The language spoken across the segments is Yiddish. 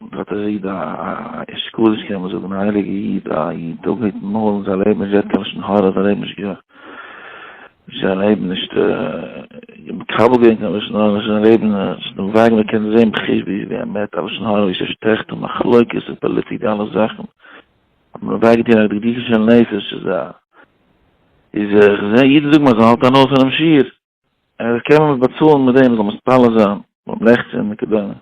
און דארט איז איד א אשכול איך קען זאגן א הייליגע איד א איד טאג מיט מארגן זיי לעבן נישט געהערט קיין לשון הרע זיי לעבן נישט זיי לעבן נישט מקבל געווען קיין לשון הרע זיי לעבן נישט דעם וועג מען קען זען בכיש ביש ווי א מת א לשון הרע ווי ס'שטעכט און מחלוקת און פאליטיק אלע זאכן האט מען אוועק געטון א דקדוקה של נפש איז א איז איך זע אידן זאגן אז זיי האלטן אן אויס אינעם שיעור און עס קען מען באצאלן מיט דעם זאל מען ספאלער זיין ביים לעכצען וכדומה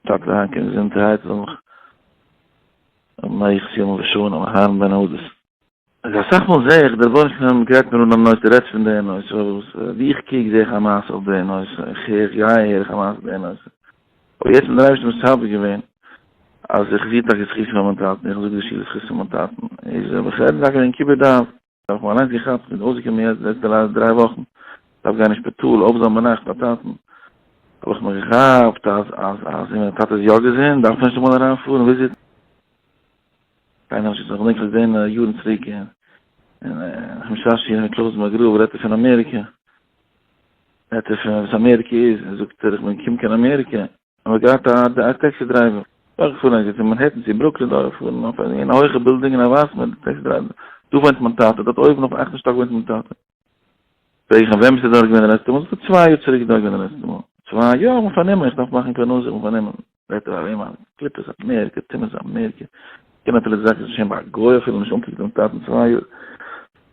טאקע די היינטיגע געזונטהייט זאל מיך און איך פיל מיך שוין און הארן בין אדעס אז א סאך מאל זע איך דער בויך און גרייט מיר אן א נושא רעדט פון די נושא וואס ווי איך קוק זע איך א מעשה אויף די נושא איך הער איך גיי הער איך א מעשה די נושא אבער יעצט מיט דער אייבערשטער מסדר געווען אז איך זיך טאקע זכות פון מיין טאטן איך זאג די שיעור זכות פון מיין טאטן איז איך רעד טאקע וועגן כיבוד אב האב איך מיך אליינס געכאפט און אויסגעקומען יעצט די לעצטע דריי וואכן, דארף גיין אין שפיטאל, אויב זאל מען נאך ביי טאטן, האב איך מיך געכאפט אז אז אז ווען מיין טאטע איז יא געזונט דארף מען נישט אמאל אריינפארן וויזיטן, קיינער האט נישט געזאגט, כ'דענק זיך געזען יארן צוריק אין אין משאשי מיט קלויז מאגרוב רעדט ער פון אמעריקע, רעדט ער פון וואס אמעריקע איז, זאגט ער איך בין געקומען קיין אמעריקע. האב איך געהאט א טעקסי דרייווער, איך פאר א געצומען מאנהעטן צו ברוקלין דארט פון אויף אין א הויכע בילדינג אין א ווייס מיט די טעקסי דרייווער, דא וואוינט מיין טאטע, דארט אויבן אויפן אכטן שטאק וואוינט מיין טאטע. פרעג איך אים ווען ביסטו דארט געווען די לעצטע מאל, זאגט ער צוויי יאר צוריק איז דארט געווען די לעצטע מאל, צוויי יאר האט מען פארנומען איך דארף מאכן פרנסה האט מען פארנומען, רעדט ער אויף וועם אז קליפות אמעריקע, צימעס אמעריקע, קען נאטורליך זאגן ס'איז שוין ביי א גוי אפילו נישט אנגעקוקט דעם טאטן צוויי יאר.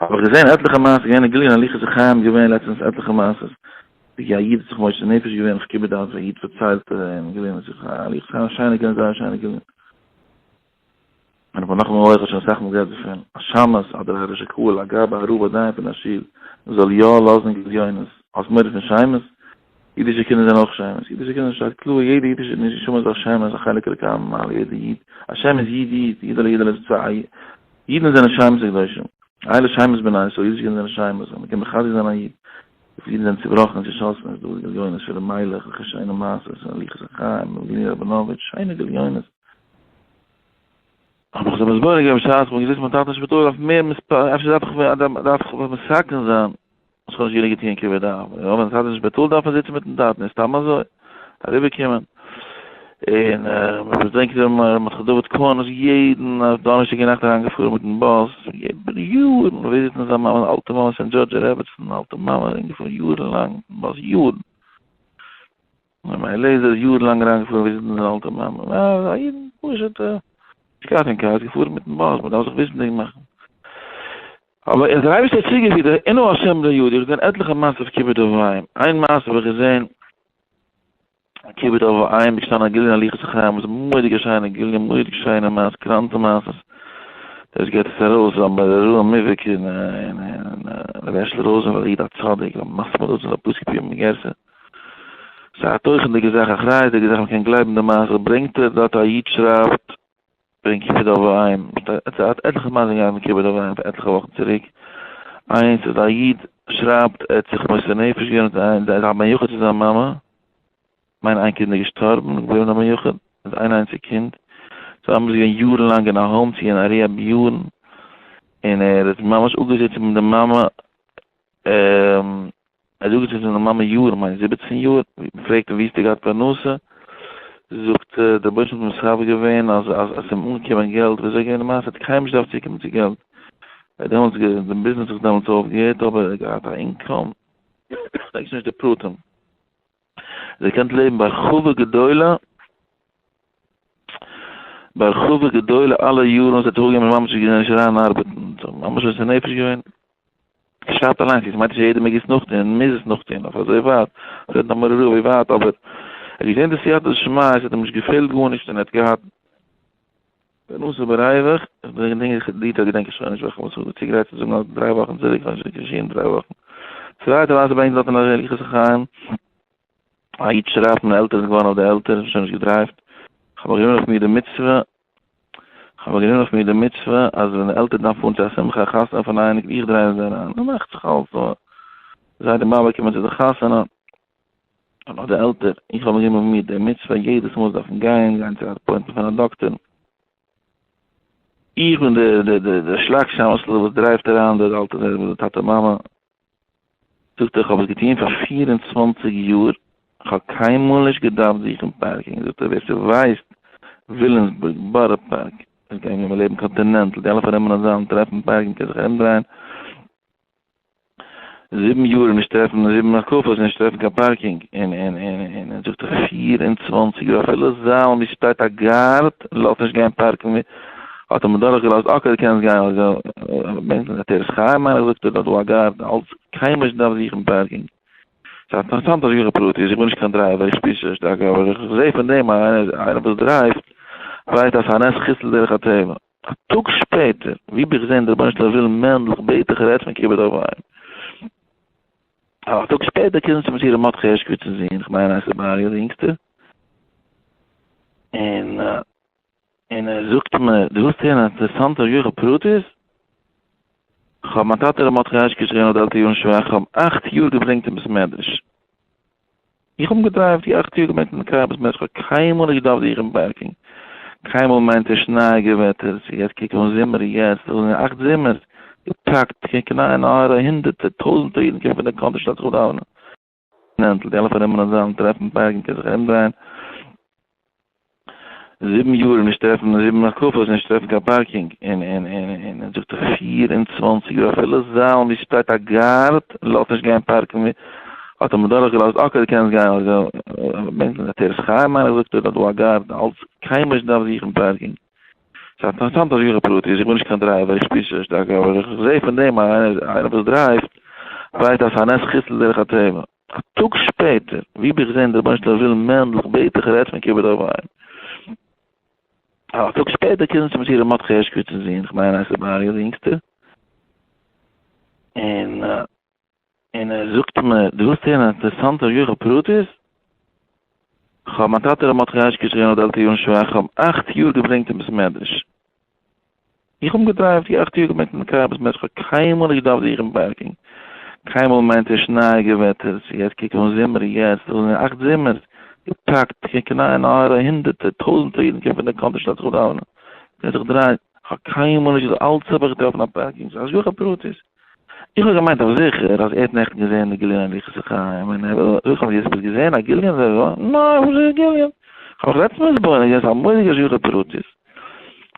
האב איך געזען עטליכע מעשיות געווען אין גליל אין הליכות החיים געווען לעצטענס עטליכע מעשיות ווי א איד האט זיך מוסר נפש געווען אויף כיבוד אב ווי א איד פארציילט אין גליל אין שיחה הליכות החיים שיינע גליל זייער שיינע גליל מיין מנחם אויך האט שוין אסאך מאל גערעדט דערפון א שמש אדער א ראש הקהל א גאב א רב א דיין פון א שול זאל יא לאזן גליונות האסט מורא פון שמש אידישע קינדער זענען אויך שמות, אידישע קינדער שטייט קלאר, יעדע אידישע נשמה איז א שם, איז א חלק אלוקי הממעל, יעדע איד, א שם איז איד איד, אידעלע אידעלע איז צוויי, אידן זענען שמות הקדושים, אלע שמות בנין, סאו אידישע קינדער זענען שמות, און מ'קען מחזק זיין א איד, וויפיל אידן זענען צובראכן, צושאסן, איז דא גליונות פון ר' מיילעך, וועלכע שיינע מעשות, הליכות החיים, וולדימיר ראבינאוויטש, שיינע גליונות. האב איך זיך מסביר געווען בשעת כ'בין געזיצן ביים טאטן אין שפיטאל אויף מער מספרים, אפשר דארף איך ווען, דארף איך ווען מסכם זיין. עס האט נישט גענוג געטוען כיבוד אב, און אויב האט די טאטע נישט בעטאלט דארף מען זיצן מיטן טאטן און סתם אזוי אריבער קומען, און מען בעדענקט ווי ר' מרדכי דוד קאהן איז יעדן דאנערשטאג אינאכט אריין געפארן מיטן באס איבער יארן וויזיטן זיין מאמע די אלטע מאמע סענט דזשארדזשער רעבעצן אלטע מאמע ארום געפארן יארן לאנג מיטן באס יארן. רבי אליעזר איז יאר לאנג אריין געפארן וויזיטן זיין אלטע מאמע, א איד פשוט א, נישט געהאט קיין קאר, איז געפארן מיטן באס, מען דארף זיך וויסנדיג מאכן. אבער ער האט דער אייבערשטער צוגעפירט אז עינו השם בני יהודה, איך האב געזען עטליכע מעשות אויף כיבוד אב ואם, איין מעשה האב איך געזען, כיבוד אב ואם איז געשטאנען א גליון הליכות החיים, וואס איז מורא'דיג א שיינע גליון, מורא'דיג שיינע מעש, קראנטע מעשות, דאס געבט עס ארויס, און ביי ר' אהרן מיוויק און ר' הערשל ראזענפעלד, א איד א צדיק, א מספיד אוזן, א פוסק פיהם מגרסא. ס'איז א תוכנ'דיגע זאך, אחריות'דיגע זאך, מ'קען גלייבן די מעשה, ברענגט ער דארט א איד שרייבט וועגן כיבוד אב ואם, ס'האט עטליכע מעשים געהאט מיט כיבוד אב ואם פאר עטליכע וואכן צוריק, איינס איז א איד שרייבט ער האט זיך מוסר נפש געווען מיט איין זיידע א בן יחיד צו זיין מאמע, כ'מיין איין קינד איז געשטארבן, געבליבן א בן יחיד מיט איין איינציג קינד, זיי האבן זיך געווען יארן לאנג אין א האום צו אין א ריהעב יארן, און ער האט ממש אפגעזיצן מיט די מאמע, א זאגט זי זענען מאמע יארן מיין זיבעצן יאר מ'פרעגט איר ווי האסטו געהאט פרנסה זאגט זי דער רבונו של עולם האט מסדר געווען אז אז ס'איז אים אנגעקומען געלט ווי אזוי געווען די מעשה האט קיינעם נישט געדארפט צוקומען צו געלט ער דעמאלטס די ביזנעס זיך דעמאלטס אויפגעהערט אבער ער האט געהאט א אינקאם פרעגסט נישט די פרטים. איר קענט לעבן בהרחבה גדולה, בהרחבה גדולה אלע יארן וואס ער האט אויפגעגעבן און ממשיך געווען נישט אריין ארבעטן, ס'האט אים ממש מוסר נפש געווען. כ'שרייב אליינס יעצט, מיינט נישט אז יעדער מעג עס נאכטון און מוז עס נאכטון אויף אזוי ווייט, רעדן א מרור אזוי ווייט, אבער ער האט געזען די סייעתא דשמיא, עס האט אים נישט געפעלט גארנישט און ער האט געהאט, די נושא איבער אייוועלט, די געדענק די טאג געדענק איך שוין נישט וועלכע וואס כ'האב צוגרייט צו זאגן אלס דריי וואכן צוריק כ'האב נישט רעקארדירט דריי וואכן. צווייטע ווייסע בענק דארט אין אריאל יחוס החיים. א איד שרייבט מיין עלטער איז געווארן אויף די עלטער שוין נישט געדרייווט. כ'האב מיר גענומען אויף מיר די מצוה כ'האב מיר גענומען אויף מיר די מצוה אז ווען די עלטער דארף פארן צו א שמחה א חתונה פון א אייניג איך דרייוו זיי אריין. מ'מאכט זיך אלס זיי די באבע קומען צו די חתונה. איך בין די עלטער, איך האב מיר גענומען די מצוה יעדעס מאל דארפן גיין, גיין צו א אפוינטמענט פון א דאקטער, איך בין די שלאק שאמעשל וואס דרייווט אריין די עלטערן און די טאטע מאמע, זאגט ער, איך האב עס געטון פאר פֿיר און צוואַנציק יאר, איך האב קיינמאל נישט געדארפט זוכן פארקינג, זאגט ער, ווער ס'ווייסט וויליאמסבורג, בארא פארק, עס גייען ווען מיר לעבן קאנטינענטל, די אלע פארנעמען א זאל און טרעפן פארקינג, קען זיך ארומדרייען. זיבן יאר נישט טרעפן זיבן הקפות נישט טרעפן קיין פארקינג און און און און און זאגט ער פֿיר און צוואַנציק יאר אפילו זאל ווי שטייט א גארד לאזט נישט גיין פארקן ווי האט אים דורך געלאזט אקעי די קענסט גיין אזוי בענקט זיך עטרת חיים מיין איך זאגט ער דארט דא א גארד אלץ קיין מענטש דארף זוכן פארקינג. ס'איז אינטערעסאנט אז איך בין פרטי איך בין נישט קיין דרייווער איך שפיר שוין שטארק אבער איך זעה פון דעם אז איינער וואס דרייווט ווייסט אז ס'איז א נס חיסל דרך הטבע. א טאג שפעטער, ווי ביך זעהן דער רבונו של עולם מענדל איך בעט דיך רעדט פון כיבוד אב ואם. א טאג שפעטער קומט צו מיר ר' מרדכי הערשקוויטצער זון, איך מיין ער הייסט ר' אריה דער אינגסטער, און און ער זאגט מיר דו ווילסט הערן א אינטערעסאנטע יוחד פרטית? כ'האב מיין טאטע ר' מרדכי הערשקוויטצער געווען אדעלטע יארן שוואך, כ'האב אכט יאר געברענגט אין בית מדרש, איך האב געדרייווט די אכט יאר געבענקט אין די קאר ביז מרץ כ'האב קיינמאל נישט געדארפט זיכן פארקינג קיינמאל מיינט ער שנייאיגע וועטער ס'איז יעצט קוק אן זומער יעצט דאס זענען אכט זומערס געפאקט קוק אין איין אויער א הונדערטער טויזענטער אידן קומען פון די קאנטרי שטעלן זיך אויף דאווענען נענטל די אלע פארנומענע זאלן טרעפן פארקינג קען זיך ארומדרייען. זיבן יאר נישט טרעפן זיבן הקפות נישט טרעפן קיין פארקינג און און און און און זאגט ער פֿיר און צוואַנציק יאר אפילו זאלן ווי שטייט א גארד לאזט נישט גיין פארקן ווי האט אים דורך געלאזט אקעי די קענסט גיין אבער בענקל אין עטרת חיים מיין איך זאגט ער איז דא א גארד אלץ קיינמאל נישט געדארפט זוכן פארקינג. ס'איז אינטערעסאנט אז איך בין פרטי איך בין נישט קיין דרייווער איך שפיר זיך נישט שטארק אבער איך זעה פון דעם אז איינער וואס דרייווט ווייסט אז ס'איז א נס חיסל דרך הטבע. א טאג שפעטער, ווי ביך זען דער רבונו של עולם וויל מענדלך בעט איך רעדט מיט כיבוד אב איין. א טאג שפעטער קומט צו מיר ר' מרדכי הערשקאוויטש'ס זון, איך מיין הייסט ער בארי'ס אינגסטער, און און ער זאגט מיר, דו ווילסט הערן א אינטערעסאנטע יוחא פרטית? כ'האב מיין טאטע ר' מרדכי הערשקאוויטש געווען אדעלט יארן שוואך, כ'האב אכט יאר געברענגט אין בית מדרש. איך האב געדרייווט די אכט יאר געבענקט אין די קאר ביז מרדכי, קיינמאל נישט געדארפט זוכן פארקינג, קיינמאל מיינט ער שנייאיגע וועטער, צו יעצט קוק אן זומער, יעצט דאס זענען אכט זומערס, געפאקט, קוק אין איין אויער הונדערטער, טויזענטער אידן קומען פון די קאנטרי שטאט זיך דאווענען, קען זיך דרייען, איך האב קיינמאל נישט געזאגט אלץ האב איך געטראפן א פארקינג, ס'איז השגחה פרטית. איך האב געמיינט אויף זיכער אז ער האט נעכטן געזען די גיליון און יחסי חיים און ער וויל וויסן האסט געזען א גיליון און אזוי ווייטער, נאר וואס איז א גיליון? כ'האב מיך לעצטנס מתבונן געווען ס'איז א מורא'דיגע שיחה פרטית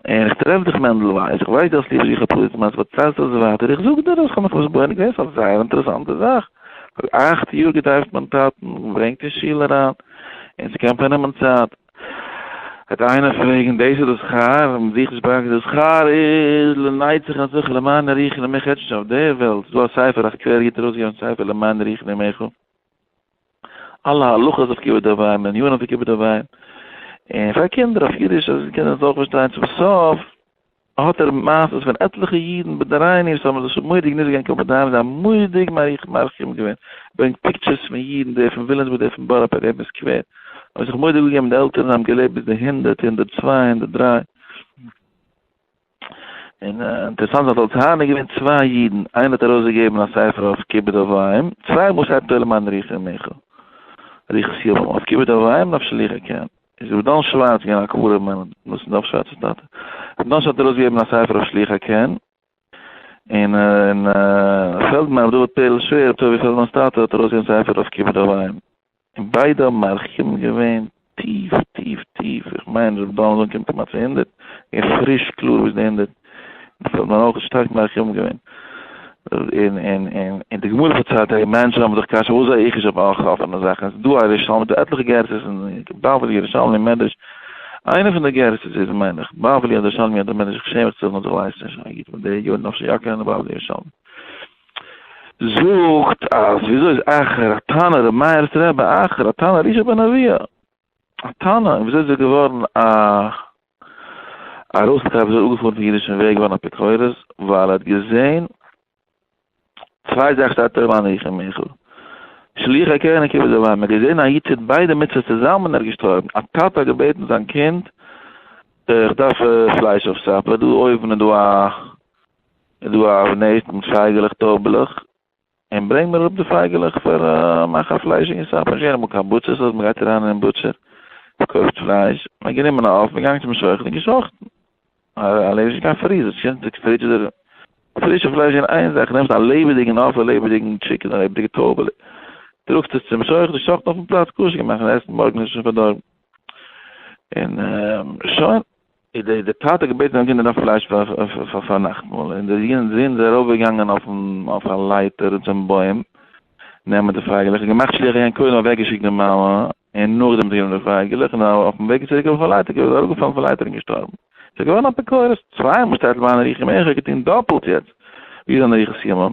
און איך טרעף דיך מענדל ווייס איך ווייס דו האסט ליב שיחה פרטית מאכסט פארציילסט עס ווייטער איך זאג דיר אז כ'האב מיך מתבונן געווען ס'איז א זייער אינטערעסאנטע זאך פאר אכט יאר געדרייווט מיין טאטן געברענגט אין שול אריין און ס'קען פארנעמען צייט. וועט איינער פרעגן, דאס איז די שכר? האבן זיך נישט באקס? די שכר איז לנצח אנשיך למען אריך נעמיך עטץ שוין אויף דער וועלט, ס'דא א ספר, א סקווערער איד האט ארויסגעגעבן א ספר למען אריך נעמיך, אלע הלכות אויף כיבוד אב ואם, ענינים אויף כיבוד אב ואם, און פאר קינדער אויף אידיש אז די קינדער זאלן אויך פארשטיין, צום סוף. האט ער מעשות פון עטליכע אידן בי די רייני וואס האבן זיך מודיע גענישט געגעבן קיין פאדייאם זיי האבן מודיע מרחם געווען, ער ברענגט פיקטשערס פון אידן די פון וויליאמסבורג די פון בארא פארק די פון סקווער האבן זיך מודיע געגעבן די עלטערן זיי האבן געלעבט ביז די הונדערט הונדערט צוויי הונדערט דרײַ און אינטערעסאנט זיי האט אלס הארנער געווען צוויי אידן איינער האט ארויס געגעבן א ספר אויף כיבוד אב ואם צוויי מאל שרייבט עולם אנריך און מיכל ריכס יבם אויף כיבוד אב ואם נפשליך הקן. איז רבי דן שווארץ געווען א קבורה מען און דאס איז דאך שווארצער טאטע. רבי דן שווארץ האט ארויסגעגעבן א ספר אויף שלוח הקן. און און פעלדמאן רבי דוד פערל שווער רבי טובי' פעלדמאן'ס טאטע האט ארויסגעגעבן ספר אויף כיבוד אב ואם. און ביידע האבן מרחיבים געווען טיף טיף טיף. איך מיין רבי דן האט אנגעקומען כמעט צו הונדערט. געווען פריש קלאר ביז די הונדערט. דאס האט מיין אויך שטארק מרחם געווען. און און און און די גמרא פארציילט אז מענטשן האבן זיך קשיא וואס זיי איך איז אויף אפענע זאכן עס איז דא א ראשון מיט דא עטליכע גרסאות אין בבלי ירושלמי מדרש איינע פון די גרסאות איז מיין איך בבלי אדער ירושלמי אדער מדרש איך שעם מיך צו זאגן אז איך ווייס נישט א איד פון די יארן אפשר יא קענען בבלי ירושלמי זאגט אז וויאזוי איז אחר התנא ר' מאיר'ס רבי אחר התנא אלישע בן אביה. א טענה, און וויאזוי איז ער געווארן א ארויסקייער, וויאזוי איז ער אפגעפארן פון אידישן וועג געווארן א אפיקורס, ווייל ער האט געזען צוויי זאכן שטייט אויבן אן איך און מיכל, שליח הקרן און כיבוד אב ואם, ער האט געזען א איד טוט ביידע מצוות צוזאמען און ער איז געשטארבן, א טאטע האט געבעטן זיין קינד איך דארף פלייש אויף סאפער, דא אויבן איז דא א איז דא א נעסט מיט פייגעלעך טויבעלעך, און ברענג מיר אראפ די פייגעלעך פאר מאכן פלייש אין סאפ, נישט געהערט אמאל קיין בוטשערס אז מ'גייט אריין אין בוטשער, מ'קויפט פלייש, מ'האט גענומען א עוף, מ'געגאנגען צום שוחט און געשאכטן, א לעב איז נישט קיין פריזער, ס'קומט די פרידזש אדער פרישע פלייש אין איין זאך, נעמסט א לעבעדיגן עוף, א לעבעדיגן טשיקן, א לעבעדיגע טויבעלע, טראגסט עס צום שוחט, ער שאכט אויפן פלאץ, כשר געמאכט, מ'עסט מארגן עס איז שוין פארדארבן, און שוין. איז דער דער טאטע געבעטן אויף גענער א פלייש פאר פאר נאכטמאל אין דער יונגען זון איז ארויף געגאנגען אויפן אויף א לייטער צום בוים נעמען די פייגעלעך געמאכט שליח געווען קודם אוועק געשיקט די מאמע אין נאכדעם צו געבן די פייגעלעך אין אויפן וועג צוריק אויף א לייטער געווען אראפ געפאלן פון לייטער אין געשטארבן סאיז געווארן אפיקורס צוויי מאל שטייט למה אני ריחי מעכר געטוהן דאפעלט יעצט ווי איז אן ריחי סימון.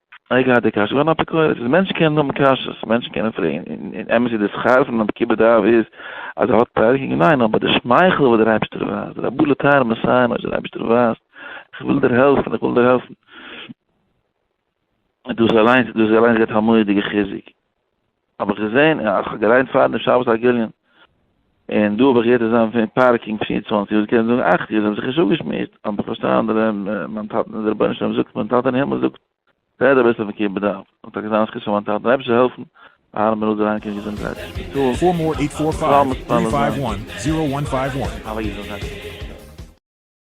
איך געהאט די קשיא, געווען אפיקורס, מענטשן קענען האבן קשיא'ס, מענטשן קענען פרעגן, און אמת איז די שכר פון אן עקיבא דרב איז אז ער האט פארהערט, ניין, אבער די שמייכל וואס דער אייבערשטער ווייזט, רבו לטהר מסיים אויש דער אייבערשטער ווייזט, איך וויל דיר העלפן, איך וויל דיר העלפן. דאס אליינס, דאס אליינס געבט א מורא'דיגע חיזוק. האב איך געזען איך האב געליינט פארדעם שבת א גליון און דא האב איך געהערט עס זענען פון פארקינג פֿיר און צוואַנציק יאר קענסט זאגן אַכט יאר זיי האבן זיך נישט אפגעשמועסט אבער איך פארשטיי אנדערע מיין טאטע און די רבונו של עולם זאגט מיין טאטע אין הימל זאגט רעד אביסל פון כיבוד אב און טאקע זיין זכות פאר מיין טאטע אויב עס זאל העלפן אהרן בן ראובן ריינקען געזונטהייט שפיטאל זאל מתפלל זיין פאר אים.